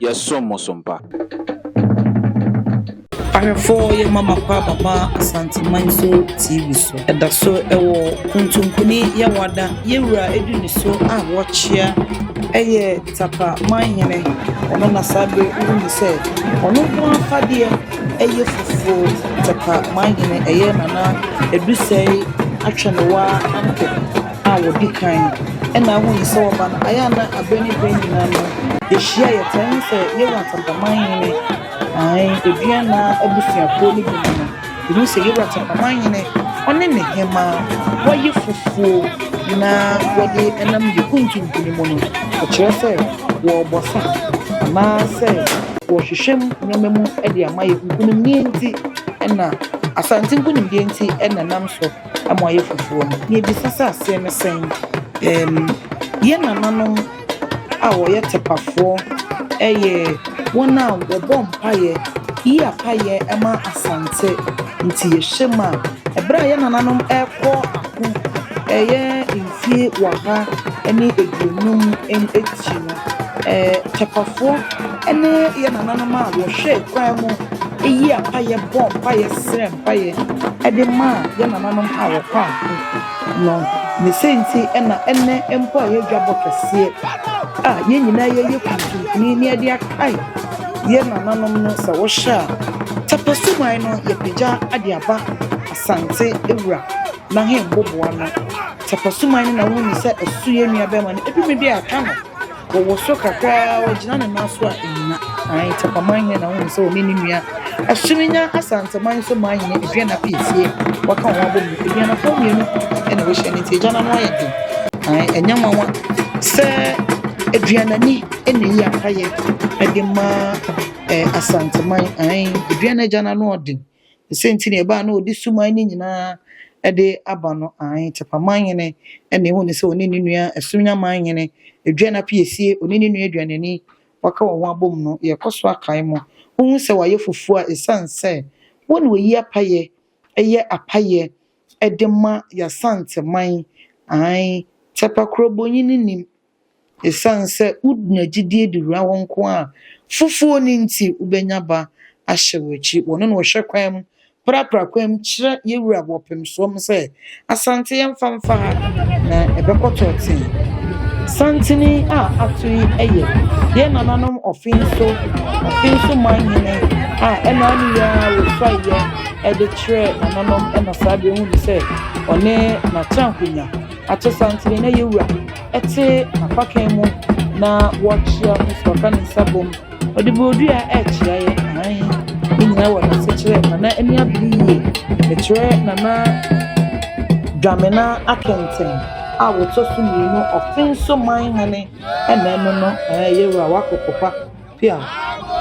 yɛsom mo som pa. Ahwɛfo yɛ Mama Pa Baba Asante Manso TV so. Ɛda so wɔ Kontonkoni Yawada Yawura edu ne so a wɔkyea ɛyɛ Tapa Manhene ɔno na saa bere wohu ne sɛ ɔno ho afadeɛ ɛyɛ fufuo Tapa Manhene ɛyɛ Nana Adusɛe Atwɛnewaa Ampem. a wɔdi kan na ahu no sɛ wɔba no ayɛ a na aberɛ ne berɛ nyinaa no yɛhyia yɛtaa hu sɛ Yehowa Atantamanhene ae Aduana abusuakuo no bi mu no yɛhu sɛ Yehowa Atantamanhene ɔne ne hemaa wɔayɛ fufuo na wɔde nam yɛ kuntuntunu mu no ɛkyerɛ sɛ wɔrebɔ sa anaasɛ wɔrehwehwɛ mu nneɛma mu de ama yɛ nkunimdie nti na Asante nkunimdie nti na nam so. ama ɔayɛ fufuo no. Na yɛbisa sɛ aseɛ ne sɛn? Ɛɛm, yɛn nananom a wɔyɛ Tepafoɔ yɛ wɔn a wɔbɔ mpaeɛ, yi apaeɛ ma Asante. Nti yɛhyɛ mu a, ɛberɛ a yɛn nananom rekɔ ako ɛyɛ mfie ɔha ne aduonum akyi no, ɛɛ Tepafoɔ. ne yɛn nananom a wɔhwɛɛ kwan mu yii apaeɛ bɔɔ mpaeɛ srɛɛ mpaeɛ de maa yɛn nananom a wɔkɔ ako no. Ne sɛ nti na ɛnnɛ mpo a yɛyɛ dwabɔ kɛseɛ a yɛn nyinaa yɛyɛ kuntunkuni na yɛde akae yɛn nananom no sɛ wɔhyɛ a tapasuman no yɛpagya de aba asante wura n'ahemboboa no tapasuman no na wohu ne sɛ ɛso yɛn nua bɛrima no ɛduru baabi a yɛaka no. Ɔwɔ soro kakra ara, ɔgyina ne nan so a ennyina. Ae, Tafamman hene na wonim sɛ ɔne ne nua Asumenya Asanteman Soman hene Aduana Piesie wɔaka wɔn abom no. Aduanafoɔ mmienu na wɔahyia no nti agya no ano ayɛ den. Ae, ɛnyɛ nwanwa sɛ Aduanani na eyi apayɛ de ma eh, Asanteman. Ae, Aduana agya no ano ɔden. Sɛ nti na ɛbaa na ɔde suman no nyinaa de aba no, ae, Tepa manhene na ehu no sɛ ɔne ne nua Asunya manhene, Aduan Apiesie, ɔne ne nua Aduanani, wɔaka wɔn ho abom no, yɛkɔ so akae mo. Wohu sɛ wɔayɛ fufuo a ɛsiane sɛ wo na wɔyi apaeɛ yɛ apaeɛ de ma Y'Asante man, ae, Tepa kurobonyi no nim. Esiane sɛ wudua gyidi de wura wo nkoa foforo no nti, wubenya ba ahyɛ wo akyi. Wɔne no hwɛ kwan mu, prapra kwan mu kyerɛ yɛn wura wɔ ɔpemsoɔm sɛ, Asante, yɛmfa mfa ha, na ɛbɛkɔ tɔɔtee. Santene a ato yi yɛ yɛn nananom Ɔfenso, Ɔfenso man hene a ɛna ne yɛ ara wɔsuaeɛ de kyerɛɛ nananom na saa berɛ hu no sɛ ɔne n'akyɛnkonya. Akyesantene na Yewura te n'apakan mu na wɔrekyea no so, ɔka ne nsa bom, ɔde bodua rekyea yɛ, aane, ne nyinaa wɔ n'asekyerɛ, Nana ani abere yie, mekyerɛ Nana Dwamena Akenteng a wɔtɔ so mmienu, Offinso Manhene, ɛna ɛno no, ɛɛ Yewura, woakɔ kɔfa. Pia,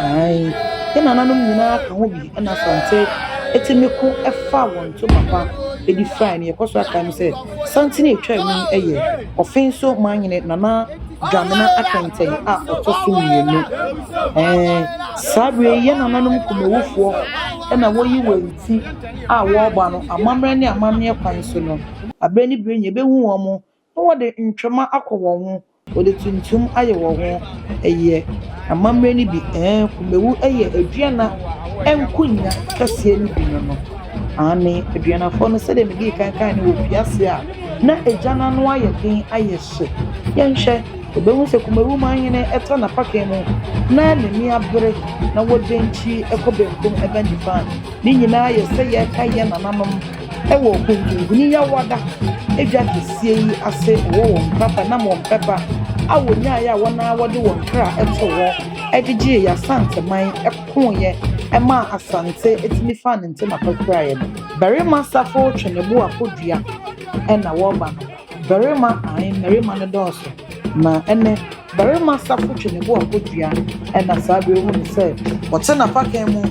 Aane, yɛn nananom nyinaa ka ho bi na Asante tumi ko faa wɔn to papa de firae no. Yɛkɔ so akae no sɛ Asante no a ɛtwaa mu yi yɛ Ɔfen so Manyene Nana Dwamena Akɛntɛn a ɔtɔ so mmienu. Ɛɛ, saa berɛ yi yɛn nananom Kumawufoɔ na wɔyi wɔn ti a wɔreba no amammerɛ ne amanneɛ kwan so no. Aberɛ ne berɛ nyɛ yɛbɛhu wɔn Na wɔde ntwom akɔ wɔn ho, wɔde tuntum ayɛ wɔn ho ɛyɛ. Amammerɛ no bi, ɛɛ, Kumawu yɛ Aduana nkonwa kɛseɛ no bi no no. Aane, Aduanafoɔ no sɛdeɛ medii kan kaeɛ no wɔfiri aseɛ a, na egya no ano ayɛ den ayɛ hye. Yɛnhwɛ, yɛbɛhu sɛ Kumawu manhene ta n'apakan mu na n'ani abere na wɔdɛn kyiri kɔ benkum ba nifa a, ne nyinaa yɛ sɛ yɛrekae yɛn nananom. Wɔ nkunkunyi yawada edwa kɛseɛ yi ase wɔ wɔn mpapa nam wɔn pɛpa a wɔnyaeɛ a wɔn ara wɔde wɔn kra too hɔ gyegyeeɛ Asante man kooeɛ maa Asante tumi faa ne ntɛm apa kuraeɛ no. Barima safo retwe ne bo akɔ dua na wɔreba no. Barima ae mmarima no dɔɔso na ɛnnɛ. Barima safo twe ne bo a kodua na saa bere hu no sɛ ɔte n'apakan mu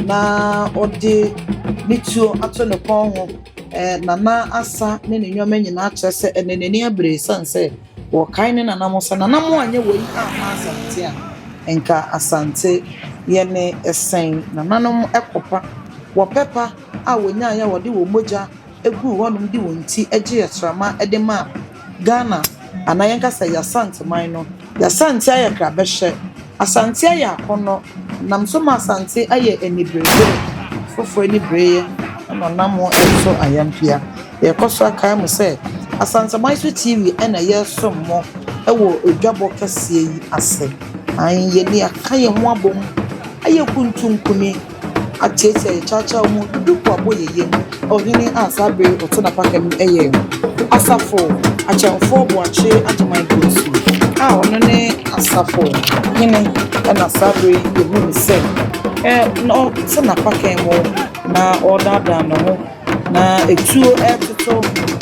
na ɔde ne tuo ato ne kɔn ho. Nana asa ne ne nneɛma nyinaa kyerɛ sɛ ɛnɛ n'ani abere esiane sɛ wɔkae ne nana ho sɛ, Nana mo anyɛ wei amma Asante a, nka Asante yɛ ne sɛn? Nananom kɔ pa. Wɔpɛ pa a wɔnyaeɛ a wɔde wɔn mogya guu hɔnom de wɔn ti gyee asram de maa Ghana anaa yɛn ka sɛ Y'Asante man no. Y'Asante ayɛ krabɛhyɛ, Asante ayɛ akɔnnɔ, nam so ma Asante ayɛ aniberebere, foforɔ anibereɛ na ɔnam ho nso ayɛ mpea. Yɛkɔ so akae mo sɛ Asanteman so TV na yɛresom mo wɔ dwabɔ kɛseɛ yi ase. Aane, yɛn ani aka yɛn ho abom ayɛ kuntunkuni. Akyerɛ sɛ kyawkyaw mu dudukuabɔ yɛ yam, ɔhene a saa bere yi ɔte n'apaka mu yɛ Asafo Akyɛmfo Boakye Agyemang Bonsu a ɔno ne asafo hene na saa bere yi yehu no sɛ na ɔte n'apaka mu na ɔredaadaa ne ho na etuo retoto,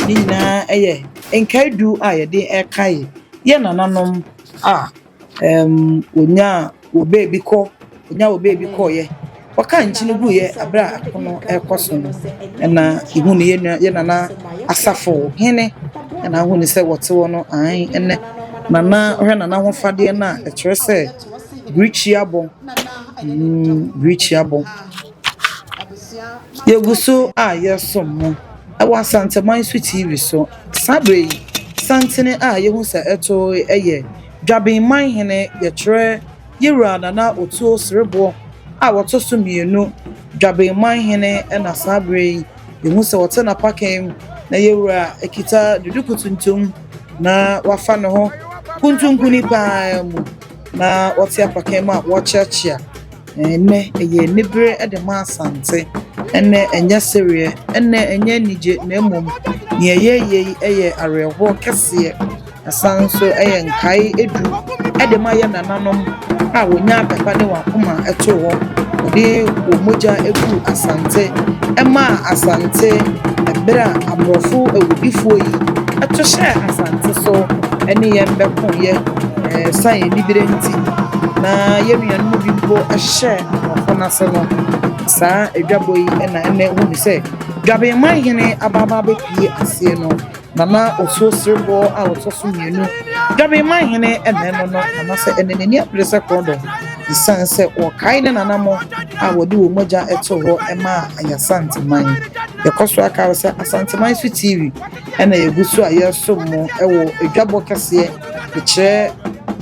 ne nyinaa yɛ nkae du a yɛde kae yɛn nananom a. Ɛɛm, wɔnyaa wɔ baabi kɔ, wɔnyaa wɔ baabi kɔeɛ. Wɔkaa nkyene guiɛ berɛ a ako no rekɔ so no, ɛna yɛhu no yɛn nua yɛn Nana Asafo Hene ɛna ahu no sɛ wɔte hɔ no aane ɛnɛ Nana wohwɛ Nana ahofadeɛ no a ɛkyerɛ sɛ bere tua bɔ, mm bere tua bɔ. Yɛgu so a yɛresom mo wɔ Asanteman so TV so. Saa berɛ yi, sankten a yɛhu sɛ ɛtoe yɛ Dwaben Manhene yɛkyerɛ Yɛwura Nana Otuo Sereboɔ a ɔtɔ so mmienu Dwaben Manhene na saa berɛ yi yɛhu sɛ ɔte n'apakan na Yɛwura kita duduku tuntum na wafa ne ho kuntunkuni paa mu na ɔte apakan mu a ɔrekyea kyea Ɛnnɛ ɛyɛ anibere de ma Asante. Ɛnnɛ ɛnyɛ sereɛ, ɛnnɛ ɛnyɛ anigye, na mmom nea yɛreyɛ yi yɛ awerɛhoɔ kɛseɛ. Ɛsane nso yɛ nkae edu de ma yɛn nananom a wɔnyaa papa ne wɔn akoma too hɔ. Wɔde wɔn mogya guu Asante. Ɛmaa Asante bere a aborɔfo awudifoɔ yi to hyɛɛ Asante so ne yɛn bɛkoeɛ. Esiane anibere nti, na yɛn nuanom bi mpo hyɛ ɔko no ase no, saa adwabɔ yi na ɛnnɛ wohu no sɛ Dwabenman hene abaabaa bɛpue aseɛ no, Nana Osuo Sereboɔ a ɔtɔ so mmienu, Dwabenman hene na ɛno no, Nana sɛ ɛnnɛ n'ani abere sɛ korɔdɔm esiane sɛ wɔkae ne nanamo a wɔde wɔn mogya too hɔ maa Ayasanteman. Yɛkɔ so aka ara sɛ Asanteman so TV. Ɛna yɛgu so a yɛresom mo wɔ adwabɔ kɛseɛ de kyerɛ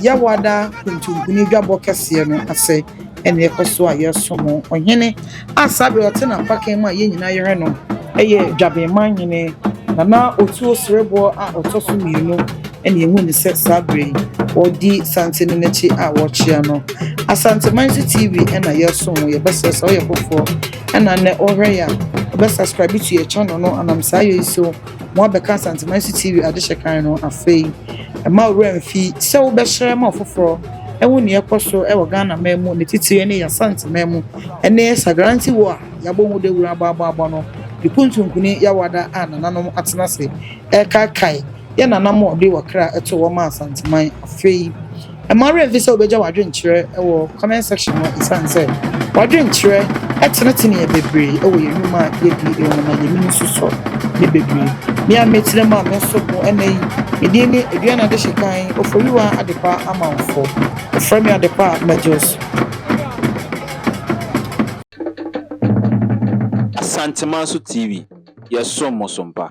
Yawada kuntumpuni dwabɔ kɛseɛ no ase ɛna yɛkɔ so a yɛresom mo ɔhene a saa bere ɔte n'apakan mu a yɛn nyinaa yɛhwɛ no ɛyɛ dwabenman hene nana otuo sereboɔ a ɔtɔ so mmienu ɛna yɛhu ne sɛ saa bere yi ɔdi sante no n'akyi a wɔkyea no asanteman so tv ɛna yɛresom mo yɛbɛsrɛ sɛ ɔyɛ foforɔ Ɛna nɛ wohwɛ yɛ a wobɛ subscribe to yɛ channel no anam saa yɛ yi so mo abɛka Asanteman so TV adehyɛ kan no afei ɛma owura mfi sɛ wobɛ hyerɛ ma ɔfoforɔ ɛho neɛ ɛkɔ so ɛwɔ Ghana man mu ne titire ne yɛ Asanteman mu ɛne Sagranti wo a yabɔ ho dawuro abɔ abɔ abɔ no ne kuntunkuni yawada a nananom atena se ɛrekaekae yɛ nana mo ɔde wɔ kra ɛto wɔ ma Asanteman afei Mma wo werɛ mfi sɛ wobɛgya w'adwenkyerɛ wɔ comment section hɔ ɛsiane sɛ w'adwenkyerɛ tenetene yɛn bebree wɔ yɛn nnwuma a yɛdi wɔ mu na yɛnim nso sɔ yɛn bebree. Me a mɛtena mu a menso ho ɛnnɛ yi, me din ne Aduane Adehyekan Oforiwa Adepa Amanfo. Wɔfrɛ me Adepa a Majors. Asantemanso TV, yɛsom mo so mpa.